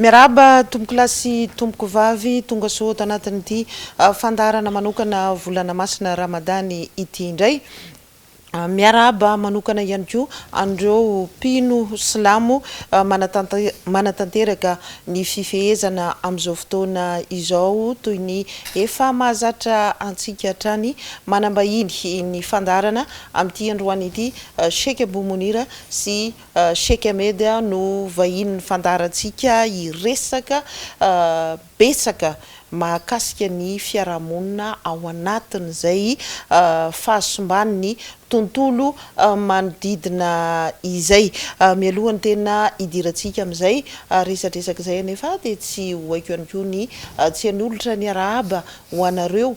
Miarahaba tompokolahy sy tompokovavy tonga soa ato anatin'ity fandaharana manokana volana masina Ramadany ity indray. Miarahaba manokana ihany koa an'ireo mpino silamo manatanteraka ny fifehezana amin'izao fotoana izao toy ny efa mahazatra antsika hatrany. Manambahiny ny fandaharana amin'ity androany ity Sheikh Abou Mounir sy Sheikh Ahmed no vahinin'ny fandaharantsika hiresaka betsaka mahakasika ny fiarahamonina ao anatin'izay fahasimban'ny tontolo manodidina izay. Mialoha ny tena hidirantsika amin'izay resadresaka izay anefa dia tsy ho haiko ihany koa ny tsy hanolotra ny arahaba ho anareo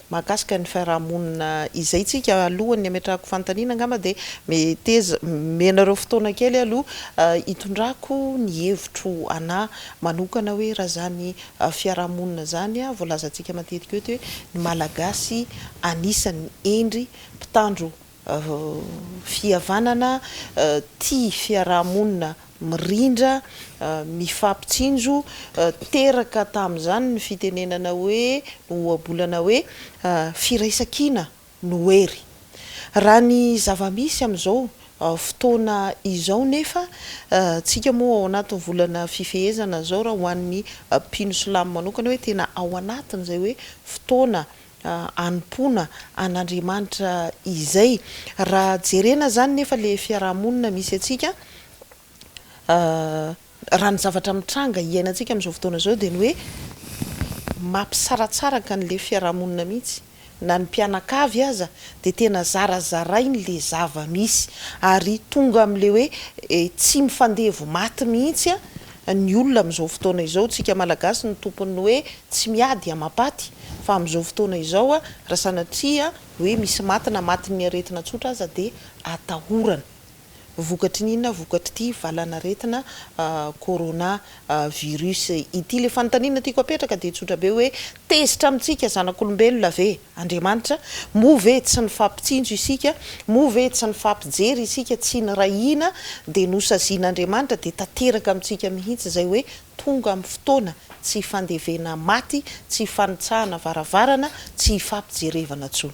Mahakasika ny fiarahamonina izay tsika alohan'ny hametrahako fanontaniana angamba dia meteza menareo fotoana kely aloha hitondrako ny hevitro anà manokana hoe raha izany fiarahamonina izany voalazantsika matetika eto hoe ny malagasy anisany hendry mpitandro fihavanana, tia fiaraha-monina mirindra, mifampitsinjo, teraka tamin'izany ny fitenenana hoe, ny ohabolana hoe, Firaisankina no hery. Raha ny zava-misy amin'izao fotoana izao nefa, tsika moa ao anatin'ny volana fifehezana izao, raha ho an'ny mpino silamo manokana hoe tena ao anatin'izay hoe fotoana hanompoana an'Andriamanitra izay. Raha jerena izany nefa ilay fiaraha-monina misy antsika, raha ny zavatra mitranga iainantsika amin'izao fotoana izao dia ny hoe mampisaratsaraka an'ilay fiaraha-monina mihitsy. Na ny mpianakavy aza dia tena zarazarainy ilay zava-misy ary tonga amin'ilay hoe tsy mifandevo maty mihitsy. ny olona amin'izao fotoana izao, tsika malagasy no tompon'ny hoe tsy miady amapaty, fa amin'izao fotoana izao raha sanatria hoe misy maty na matin'ny aretina tsotra aza dia atahorana, vokatry ny inona, vokatr'ity valanaretina corona virus ity, ilay fanontaniana tiako apetraka dia tsotra be hoe Tezitra amintsika zanak'olombelona ve Andriamanitra? Moa ve tsy nifampitsinjo isika? Moa ve tsy nifampijery isika? Tsy nirahina dia nosazian'Andriamanitra dia tanteraka amintsika mihitsy izay hoe tonga amin'ny fotoana tsy hifandevena maty, tsy hifanitsahana varavarana, tsy hifampijerevana intsony.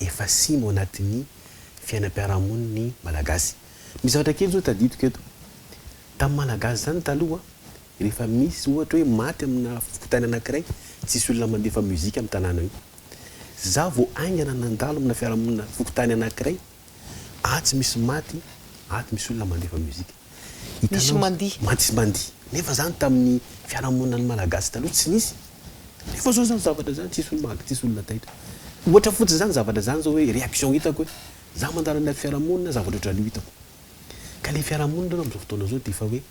efa simo ao anatin'ny fiainam-piarahamonin'ny Malagasy. Misy zavatra kely zao tadidiko eto. Tamin'ny Malagasy zany taloha, rehefa misy ohatra hoe maty amina fokontany anankiray, tsisy olona mandefa musique amin'ny tanàna io. Za vao haingana nandalo amina fiarahamonina fokontany anankiray, atsy misy maty, ato misy olona mandefa musique. Hitanao, mantsy sy mandihy. Nefa izany tamin'ny fiarahamoninan'ny Malagasy taloha tsy nisy. Nefa izao izany zavatra izany tsisy olona maty, tsisy olona taitra. Ohatra fotsiny izany zavatra izany izao hoe réaction hitako hoe izaho mandalo amin'ilay fiarahamonina zavatra ohatrany io hitako. Ka ilay fiarahamonina aloha amin'izao fotoana izao dia efa hoe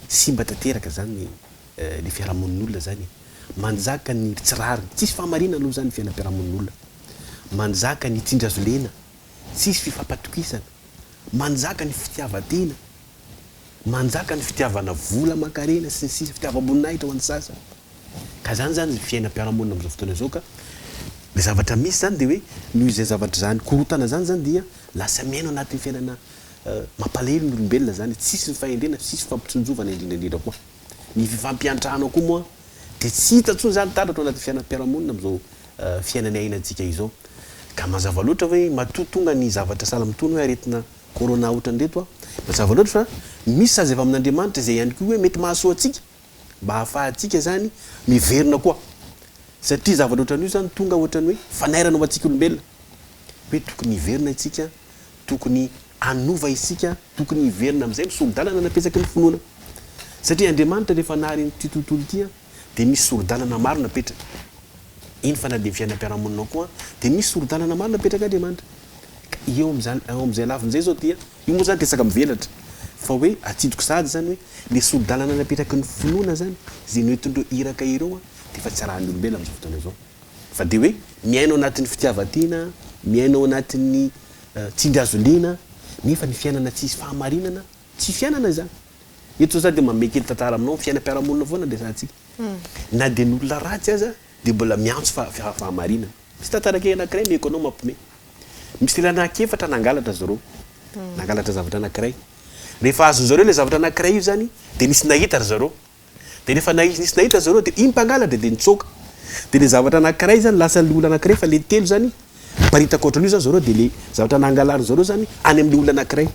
simba tanteraka izany ilay fiarahamonin'olona izany e. Manjaka ny tsy rariny, tsisy fahamarinana aloha izany ny fiainam-piarahamonin'olona. Manjaka ny tsindry azo lena. tsisy fifampatokisana, manjaka ny fitiavan-tena, manjaka ny fitiavana vola aman-karena sy ny sisa, fitiavam-boninahitra ho an'ny sasany. Ka izany izany ny fiainam-piarahamonina amin'izao fotoana izao ka ny zavatra misy izany dia hoe noho izany zavatra izany korontana izany izany dia lasa miaina ao anatin'ny fiainana mampalahelo ny olombelona izany, tsisy ny fahendrena, tsisy fifampitsinjovana indrindra indrindra koa ny fifampiantrana koa moa dia tsy hita intsony izany taratra ao anatin'ny fiainam-piarahamonina amin'izao fiainana iainantsika izao. Ka mazava loatra hoe matoa tonga ny zavatra sahala amin'itony hoe aretina Corona ohatran'ireto, mazava loatra fa misy sazy avy amin'Andriamanitra izay ihany koa hoe mety mahasoa antsika mba hahafahantsika izany miverina koa. Satria zavatra ohatran'io izany tonga ohatran'ny hoe fanairana ho antsika olombelona. Hoe tokony hiverina isika, tokony hanova isika, tokony hiverina amin'izay misolo-dalana napesaky ny finoana. Satria Andriamanitra rehefa nahary an'ity tontolo ity, dia misy sori-dalana maro napetraka. Eny fa na dia ny fiainam-piarahamoninao koa dia misy sori-dalana maro napetrak'Andriamanitra. Ka eo amin'izany, ao amin'izay lafiny izay izao dia, io moa izany resaka mivelatra, fa hoe atsidiko sahady izany hoe ilay sori-dalana napetraky ny finoana izany, izay noentin'ireo iraka ireo dia efa tsy arahan'ny olombelona amin'izao fotoana izao. Fa dia hoe miaina ao anatin'ny fitiavan-tena, miaina ao anatin'ny tsindry hazo liana, nefa ny fiainana tsisy fahamarinana, tsy fiainana izany. Eto za dia mamehy kely tantara aminao, fiainam-piarahamonina foana no resahantsika. Na dia ny olona ratsy aza dia mbola miantso fahamarinana. Misy tantara kely anankiray omeko anao mampimehy. Misy lehilahy anankiefatra nangalatra zareo. Nangalatra zavatra anankiray. Rehefa azon'zareo ilay zavatra anankiray io zany dia nisy nahita ry zareo. Dia rehefa naizy nisy nahita zareo dia iny mpangalatra dia nitsoaka. Dia ilay zavatra anankiray zany lasa ilay olona anankiray fa ilay telo zany miparitaka ohatran'io zany zareo dia ilay zavatra nangalariny zareo zany any amin'ilay olona anankiray.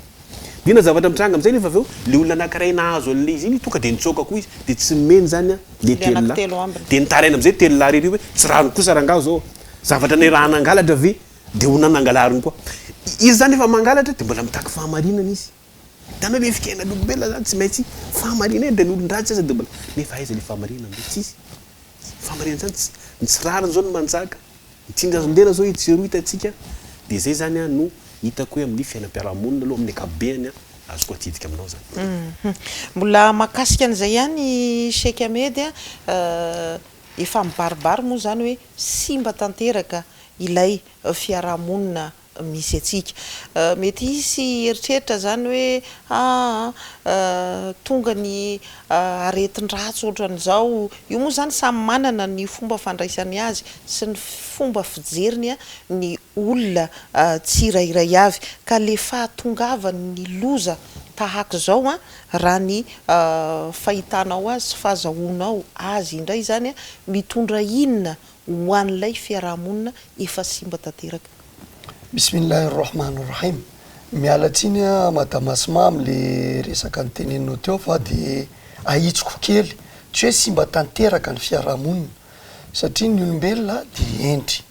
Dia inona zavatra mitranga amin'izay nefa avy eo ilay olona anankiray nahazo an'ilay izy iny tonga dia nitsoaka koa izy dia tsy nomeny zany ilay Ilay telo lahy. anankitelo ambiny. Dia nitaraina amin'izay telo lahy irery hoe tsy rariny kosa rangaha zao. Zavatra ny raha nangalatra ve dia ho nanangalariny koa. Izy zany efa mangalatra dia mbola mitaky fahamarinana izy. Hitanao le fiainan'olombelona zany tsy maintsy fahamariana e, de ny olon-dratsy aza de mbola nefa aiza le fahamariana amin'ireo tsisy fahamariana zany tsy ny tsy rariny zao no manjaka, ny tsingazondena zao etsy sy eroa hitantsika de zay zany a no hitako hoe amin'ny fiainam-piarahamonina aloha amin'ny ankapobeny a azoko atsidika aminao zany. Mbola mahakasika an'izay ihany Cheikh Ahmed a, efa mibaribary moa zany hoe simba tanteraka ilay fiarahamonina misy antsika. Mety hisy hieritreritra izany hoe, aa, tonga ny aretin-dratsy ohatran'izao. Io moa izany samy manana ny fomba fandraisany azy sy ny fomba fijeriny ny olona tsirairay avy. Ka ilay fahatongavan'ny loza tahaka izao, raha ny fahitanao azy sy fahazahoanao azy indray izany, mitondra inona ho an'ilay fiaraha-monina efa simba tanteraka. Bismillah Rahman Rahim Miala tsiny a madame Asma am le resaka niteneninao teo fa de ahitsiko kely, tsy hoe simba tanteraka ny fiaraha-monina satria ny olombelona de hendry,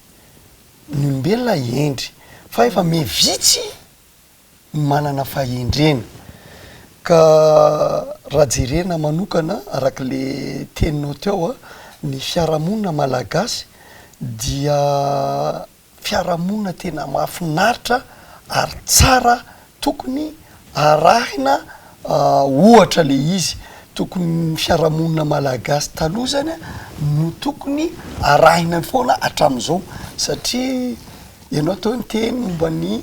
ny olombelona hendry fa efa me vitsy, manana fahendrena. Ka raha jerena manokana araka le teninao teo a, ny fiarahamonina malagasy dia fiarahamonina tena mahafinaritra ary tsara tokony arahina ohatra le izy. Tokony ny fiarahamonina malagasy taloha zany a no tokony arahina foana hatramin'izao satria ianao teo niteny momba ny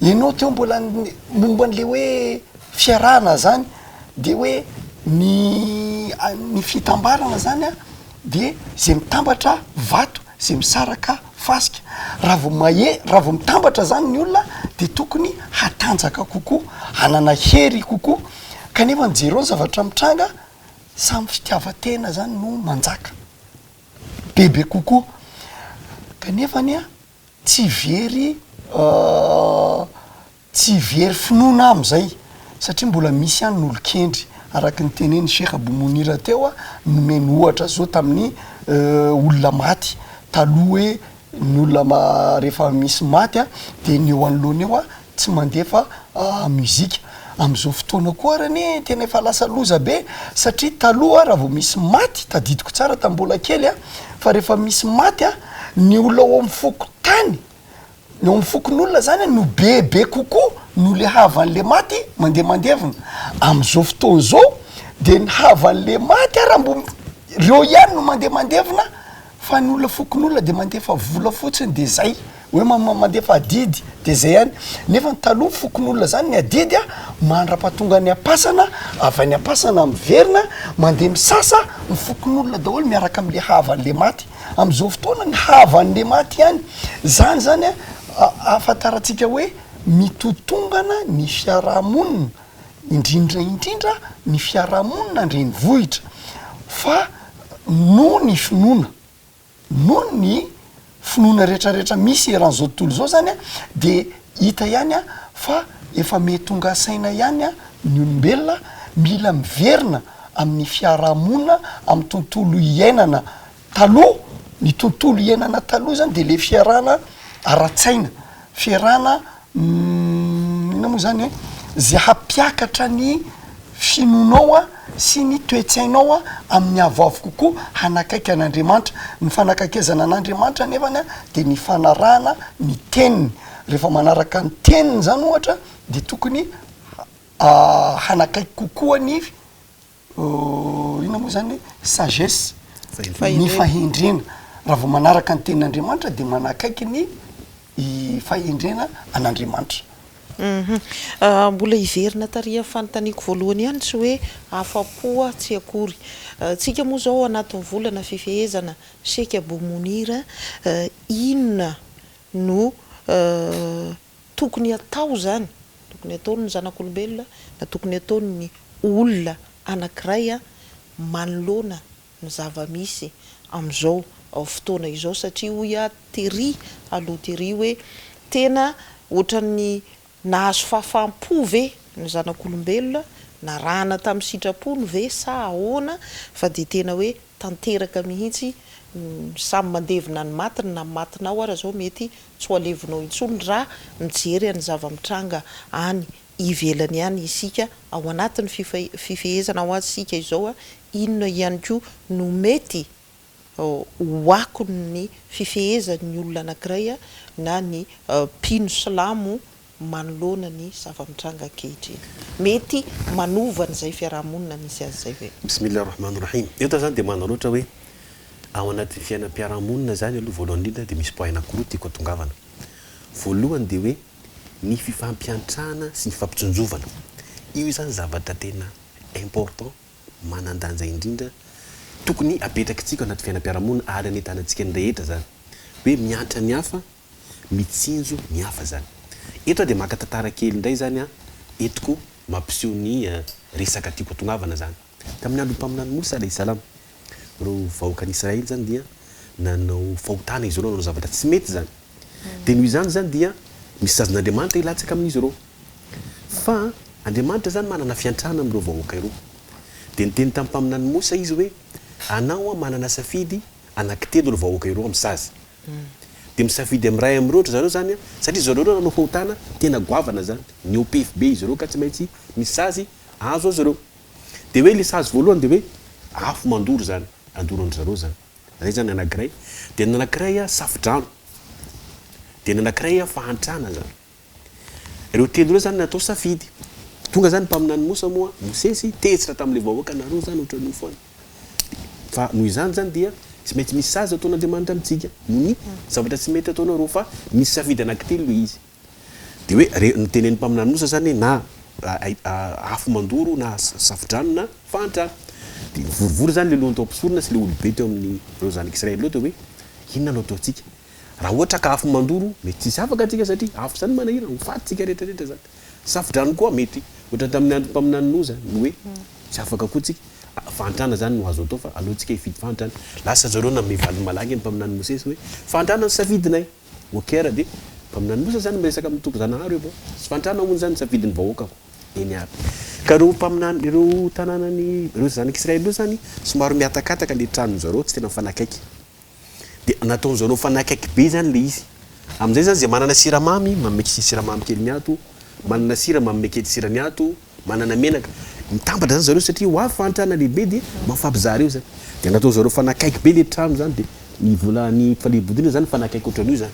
Ianao teo mbola momba an'le hoe fiarahana zany de hoe ny ny fitambarana zany an de zay mitambatra vato zay misaraka fasika raha vao mahe- raha vao mitambatra zany ny olona de tokony hatanjaka kokoa hanana hery kokoa kanefa ny jereo ny zavatra mitranga samy fitiavan-tena zany no manjaka bebe kokoa kanefa anie an. tsy very tsy very finoana amin'izay satria mbola misy ihany ny olon-kendry araka ny tenenin'i Sheikh Abou Mounir teo aho, nomeny ohatra zao tamin'ny olona maty taloha hoe ny olona ma- rehefa misy maty dia ny eo anoloany eo tsy mandefa musique amizao fotoana koa ary anie tena efa lasa loza be satria taloha raha vao misy maty tadidiko tsara tamin'ny mbola kely aho fa rehefa misy maty an ny olona ao amin'ny fokontany ny ao amin'ny fokonolona zany an no be be kokoa noho le havan'le maty mandeha mandevina amizao fotoana zao dia ny havan'le maty ary mbo reo ihany no mandeha mandevina Fa ny olona fokonolona dia mandefa vola fotsiny dia zay, hoe mandefa adidy dia zay ihany. Nefa ny taloha ny fokonolona zany ny adidy a, mandrapatonga any am-pasana, avy any am-pasana miverina, mandeha misasa, ny fokonolona daholo miaraka amle havanle maty. Amzao fotoana ny havanle maty ihany, zany zany a ahafantarantsika hoe mitotongana ny fiarahamonina. indrindra indrindra ny fiarahamonina an-drenivohitra fa noho ny finoana, noho ny finoana retraretra misy eran'izao tontolo izao zany an, de hita ihany an fa efa miha tonga saina ihany an ny olombelona mila miverina amin'ny fiarahamonina amin'ny tontolo iainana Taloha, ny tontolo iainana taloha zany de le fiarahana ara-tsaina, fiarahana inona moa zany e, ze hampiakatra ny finoanao a sy ny toe-tsainao a amin'ny avoavo kokoa hanakaiky an'Andriamanitra. Ny fanakaikezana an'Andriamanitra anefany a de ny fanarahana ny teniny. Rehefa manaraka ny teniny zany ohatra de tokony hanakaiky kokoa ny. inona moa zany hoe sagesse, ny fahendrena, raha vao manaraka ny tenin'Andriamanitra dia manakaiky ny fahendrena an'Andriamanitra. Hum-hum, mbola hiverina tarihan'ny fanontaniako voalohany ihany tsy hoe afa-po aho tsy akory. Tsika moa zao anatin'ny volana fifehezana Sheikh Abou Mounir, inona no tokony hatao izany, tokony hataon'ny zanak'olombelona na tokony hataon'ny olona anankiray manoloana ny zava-misy amin'izao fotoana izao satria hoy aho tery aloha tery hoe tena ohatran'ny nahazo fahafaham-po ve ny zanak'olombelona, narahana tamin'ny sitrapony ve sa ahoana fa dia tena hoe tanteraka mihitsy, samy mandevina ny matiny na ny matinao ara zao mety tsy ho alevinao intsony ra mijery any zava-mitranga any ivelany any isika ao anatiny fifehezana ho azy sika izao a, inona ihany koa no mety ho akony ny fifehezany ny olona anakiray a na ny mpino silamo manoloana ny zava-mitranga ankehitriny. Mety manova an'izay fiaraha-monina misy azy izay ve? Bismillah Rahman Rahim. Eto aho zany dia manana ohatra hoe, ao anatin'ny fiainam-piaraha-monina zany aloha voalohany indrindra dia misy point anankiroa tiako atongavana. Voalohany dia hoe ny fifampiantrana sy ny fifampitsinjovana. Io zany zavatra tena important, manan-danja indrindra, tokony apetrakitsika ao anaty fiainam-piaraha-monina ary anentanantsika ny rehetra zany. Hoe miantra ny hafa mitsinjo ny hafa zany. Eto aho dia maka tantara kely indray zany an, eto koa mampiseho ny resaka tiako atongavana zany. Tamin'ny andron'ny mpaminany Mosa alaih salam, ireo vahoakan'i Israely zany dia nanao fahotana izy ireo, nanao zavatra tsy mety zany. Dia noho izany zany dia misy sazin'Andriamanitra hilatsaka amin'izy ireo. Fa Andriamanitra zany manana fiantrana amin'ireo vahoaka ireo. Dia niteny tamin'ny mpaminany Mosa izy hoe, anao an manana safidy anankitelo ireo vahoaka ireo amin'ny sazy. Dia misafidy amin'ny iray amin'ireo ry zareo izany satria zareo ireo nanao fahotana tena goavana izany. Nihoa-pefy be izy ireo ka tsy maintsy misy sazy azo azy ireo. Dia hoe ilay sazy voalohany dia hoe afo mandoro izany, handoro an-dry zareo izany. Izay izany ny anankiray. Dia ny anankiray safodrano. Dia ny anankiray fahantrana izany. Ireo telo ireo izany natao safidy. Tonga izany mpaminany Mosa moa, Mosesy, tezitra tamin'ilay vahoaka nareo izany ohatran'ny ho foana. Fa noho izany izany dia tsy maintsy misy sazy ataon'Andriamanitra amintsika. Noho ny zavatra tsy mety ataonareo. Fa misy safidy anankitelo ilay izy. Dia hoe re, notenenin'ny mpaminany Mosa izany hoe na afo mandoro na safo-drano na fahantrana. Dia nivorivory izany ilay lohan'ny tao am-pisorona sy ilay olobe teo amin'ireo zanak'Israely ireo dia hoe inona no ataontsika? Raha ohatra ka afo mandoro, mety tsy hisy afaka antsika satria afo izany manahirana, ho faty isika rehetra rehetra izany. Safo-drano koa mety ohatran'ny tamin'ny andron'ny mpaminany Noa izany, Noe, tsy afaka koa tsika. Fahantrana izany no azo atao fa aleontsika hifidy fahantrana. Lasa zareo nanome valiny malaky ny mpaminany Mosesy hoe, fahantrana no safidinay. Okr, dia mpaminany Mosesy izany miresaka amin'ny tompon-janahary hoe, bon, tsy fahantrana hono izany no safidin'ny vahoakako. Nr. Ka ireo mpaminany, ireo tanànan'i, ireo zanak'Israely ireo izany, somary mihatakataka ilay tranon-dry zareo, tsy tena mifanakaiky. Dia nataon'i Jeannot fa nakaiky be izany ilay izy. Amin'izay izany izay manana siramamy, manome kely siramamy kely ny ato, manana sira manome kely sira ny ato, manana menaka. Mitambatra izany zareo satria ho avy fahantrana lehibe dia mamfampizaha ireo izany. Dia nataon'i Jeannot fa nakaiky be ilay trano izany dia ny vola ny fanebodina izany fa nakaiky ohatran'io izany.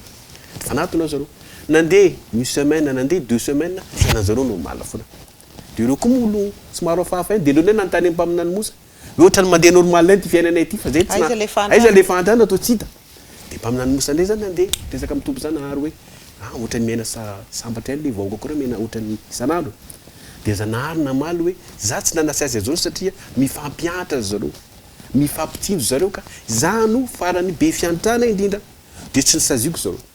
Dia fanatona zareo. Nandeha une semaine, nandeha deux semaines, fiainan'i Jeannot normaly foana. Dia ireo koa moa olona somary hafahafa ihany dia ireo indray nanontany ny mpaminany Moussa, Hoe ohatrany mandeha normal ity fiainanay ity fa zay tsy na aiza le fahantrana toa tsy hita. De mpaminany mosa ndray zany ande miresaka am Tompo zany Nahary hoe a ohatrany miaina sa sambatra ihany le vahoaka ko ra miaina ohatrany isan'andro. De za Nahary namaly hoe za tsy nanasy azy azony satria mifampihantra ry zareo. Mifampitsinjo zareo ka za no farany be fiantrana indrindra de tsy nosaziako zareo.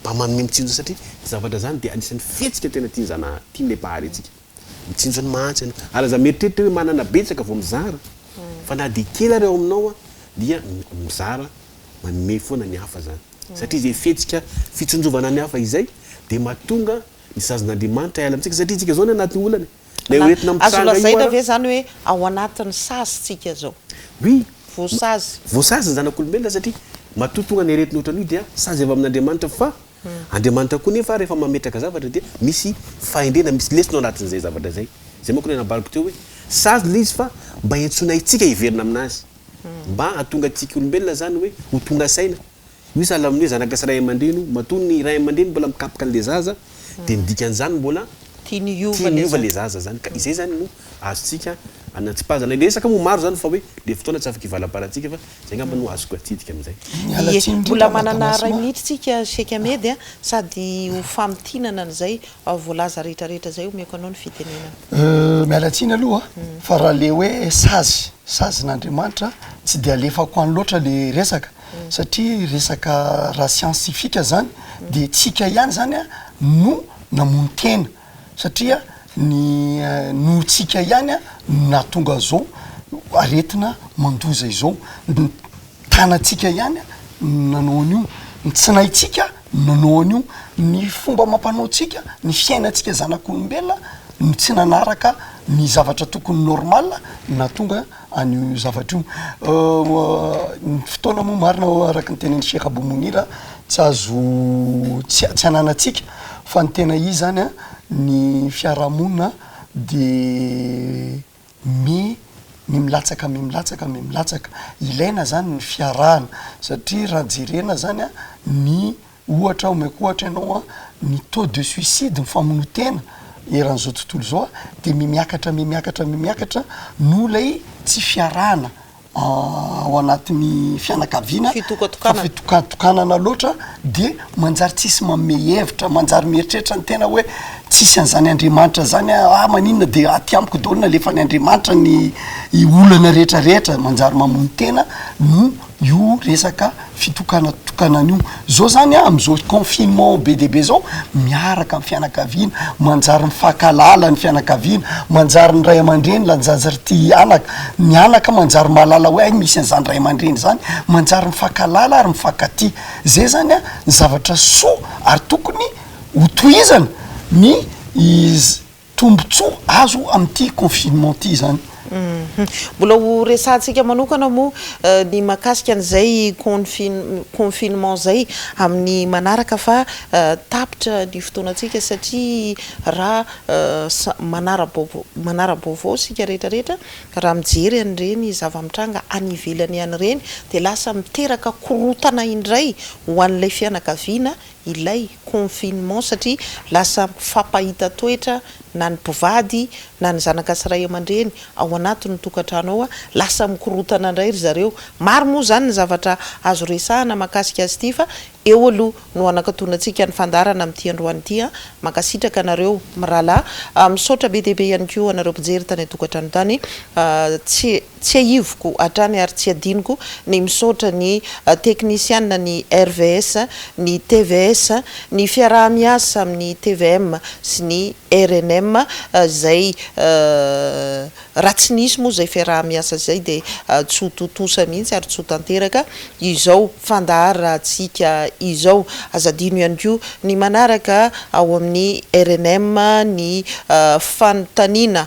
Mba manome mitsinjo satria ny zavatra zany dia anisan'ny fihetsika tena tian'i Zana tian'ilay Mpahary antsika. Mitsinjo ny mahantra ianao ary aza mieritreritra hoe manana betsaka vao mizara fa na dia kely ary ao aminao dia mizara manome foana ny hafa zany satria izay fihetsika fitsinjovana ny hafa izay dia mahatonga ny sazin'Andriamanitra hiala amintsika satria isika zao ny anaty olana e. Ilay ho entina mitranga io ara. Azo lazaina ve izany hoe ao anatin'ny sazy tsika izao? Oui. Voasazy. Voasazy ny zanak'olombelona satria matoa tonga ny aretina ohatran'io dia sazy avy amin'Andriamanitra fa Andriamanitra koa nefa rehefa mametraka zavatra dia misy fahendrena, misy lesona ao anatin'izay zavatra izay. Izay manko ilay nambarako teo hoe sazy ilay izy fa mba iantsoana antsika hiverina aminazy. Mba hahatonga antsika olombelona izany hoe ho tonga saina Misy sahala amin'ny hoe zanaka sy ray aman-dreny, matoa ny ray aman-dreny mbola mikapoka an'ilay zaza dia ny dikan'izany mbola tiany hiova ilay zaza izany ka izay izany no azontsika anatsipazana. Ilay resaka moa maro izany fa hoe ilay fotoana tsy afaka hivalabalantsika fa izay angamba no azoko atsidika amin'izay. Miala tsiny indrindra Mbola manana Madagasma. iray minitra tsika Sheikh Ahmed a, sady ho famintinana an'izay voalaza rehetra rehetra izay omeko anao ny fitenenana. Euh, miala tsiny aloha fa raha le hoe sazy, sazin'Andriamanitra tsy dia alefako any loatra le resaka satria resaka raha siansifiaka zany de tsika ihany zany a no namono tena satria ny noho tsika ihany a no nahatonga zao aretina mandoza izao ny tanatsika ihany no nanao an'io ny tsinaitsika no nanao an'io ny fomba amam-panao tsika ny fiainatsika zanak'olombelona no tsy nanaraka ny zavatra tokony normale nahatonga an'io zavatra io. Ny fotoana moa marina araka ny tenin'i Sheikh Abou Mounir tsy azo tsy tsy ananantsika fa ny tena izy zany an ny fiarahamonina de mi- milatsaka milatsaka milatsaka, ilaina zany ny fiarahana satria raha jerena zany an ny Ohatra omeko ohatra ianao an, ny taux de suicide, ny famonoan-tena eran'izao tontolo izao an, dia mihamiakatra, mihamiakatra, mihamiakatra noho ilay tsy fiarahana ao anatin'ny fianakaviana, fitokatokanana, fitokatokanana loatra dia manjary tsisy manome hevitra, manjary mieritreritra ny tena hoe tsisy an'izany Andriamanitra izany an, ah maninona dia aty amiko daholo no alefan'Andriamanitra ny olana rehetra rehetra, manjary mamono tena no. Io resaka fitokanatokanana io, zao zany a, am'zao confinement be dia be zao, miaraka am fianakaviana, manjary mifankahalala ny fianakaviana, manjary ny ray aman-dreny lanjaza ry ty anaka, ny anaka manjary mahalala hoe hay misy an'zany ray aman-dreny zany, manjary mifankahalala ary mifankatia. Zay zany a ny zavatra soa ary tokony ho tohizana ny. Tombotsoa azo amin'ity confinement ity izany. Mbola ho resahantsika manokana moa ny mahakasika an'izay confinement izay amin'ny manaraka fa tapitra ny fotoanantsika satria raha manara-baovao isika rehetrarehetra raha mijery an'ireny zava-mitranga any ivelany any ireny dia lasa miteraka korontana indray ho an'ilay fianakaviana ilay confinement satria lasa mifampahita toetra na ny mpivady na ny zanaka sy ray aman-dreny ao anatin' ny tokantrano ao, lasa mikorotana indray ry zareo. Maro moa izany ny zavatra azo resahana mahakasika azy ity fa eo aloha no hanakatonantsika ny fandaharana amin'ity androany ity an! Mankasitraka anareo mirahalahy, misaotra be dia be ihany koa anareo mpijery tany an-tokantrano tany, tsy. Tsiahiviko hatrany ary tsy adinoko ny misaotra ny teknisiana ny RVS, ny tvs, ny fiaraha-miasa amin'ny tvm sy ny rnm izay raha tsy nisy moa izay fiaraha-miasa izay dia tsy ho tontosa mihitsy ary tsy ho tanteraka izao fandaharantsika izao. Aza adino ihany koa ny manaraka ao amin'ny rnm ny fanontaniana